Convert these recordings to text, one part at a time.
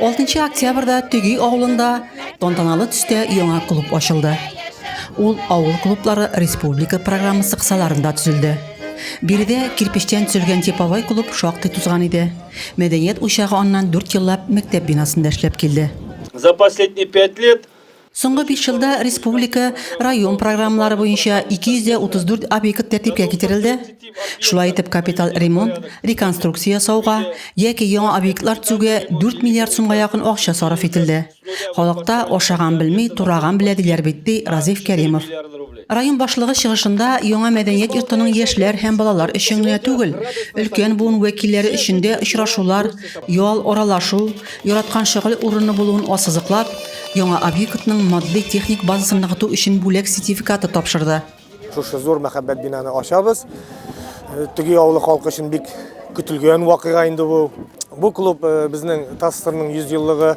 6 октябрьдә Төги авылында тантаналы төстә яңа клуб ачылды. Ул авыл клублары республика программасы кысаларында төзелде. Биредә кирпечтән төзелгән типовой клуб шактый тузган иде. Мәдәният учагы аннан 4 еллап мәктәп бинасында эшләп килде. За последние пять лет Соңгы биш елда республика, район программалары буенча 234 объект тәртипкә китерелде. Шулай итеп, капиталь ремонт, реконструкция ясауга яки яңа объектлар төзүгә 4 миллиард сумга якын акча сарыф ителде. Халыкта ашаган белми, тураган белә диләр бит, ди Разиф Кәримов. Район башлыгы чыгышында яңа мәдәният йортының яшьләр һәм балалар өчен генә түгел, өлкән буын вәкилләре өчен дә очрашулар, ял, аралашу, яраткан шөгыль урыны булуын ассызыклап, яңа объектның матди-техник базасын ныгыту өчен бүләк сертификаты тапшырды. Шушы зур мәхәббәт бинаны ачабыз. Э, Теге авылы халкы өчен бик көтелгән вакыйга инде бу. Бу клуб э, безнең ТАССРның 100 еллыгы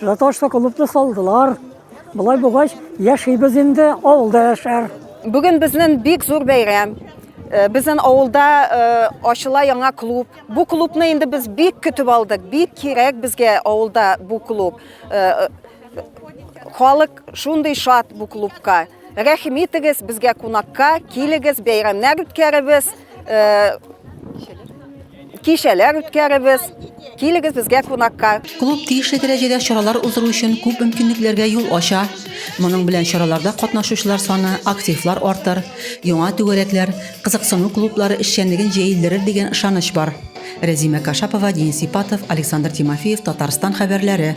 Жаташта клубны салдылар. Болай булгач, яшибез инде, авылда яшәр. Бүген безнең бик зур бәйрәм. Э, Безнең авылда э, ачыла яңа клуб. Бу клубны инде без бик көтеп алдык. Бик кирәк безгә авылда бу клуб. Э, Халык шундый шат бу клубка. Рәхим итегез, безгә кунакка килегез, бәйрәмнәр үткәребез, э, кичәләр үткәребез. Килегез безгә кунакка. Клуб тиешле дәрәҗәдә чаралар уздыру өчен күп мөмкинлекләргә юл ача. Моның белән чараларда катнашучылар саны, активлар артыр, яңа түгәрәкләр, кызыксыну клублары эшчәнлеген җәелдерер дигән ышаныч бар. Рәзимә Кашапова, Денис Ипатов, Александр Тимофеев, Татарстан хәбәрләре.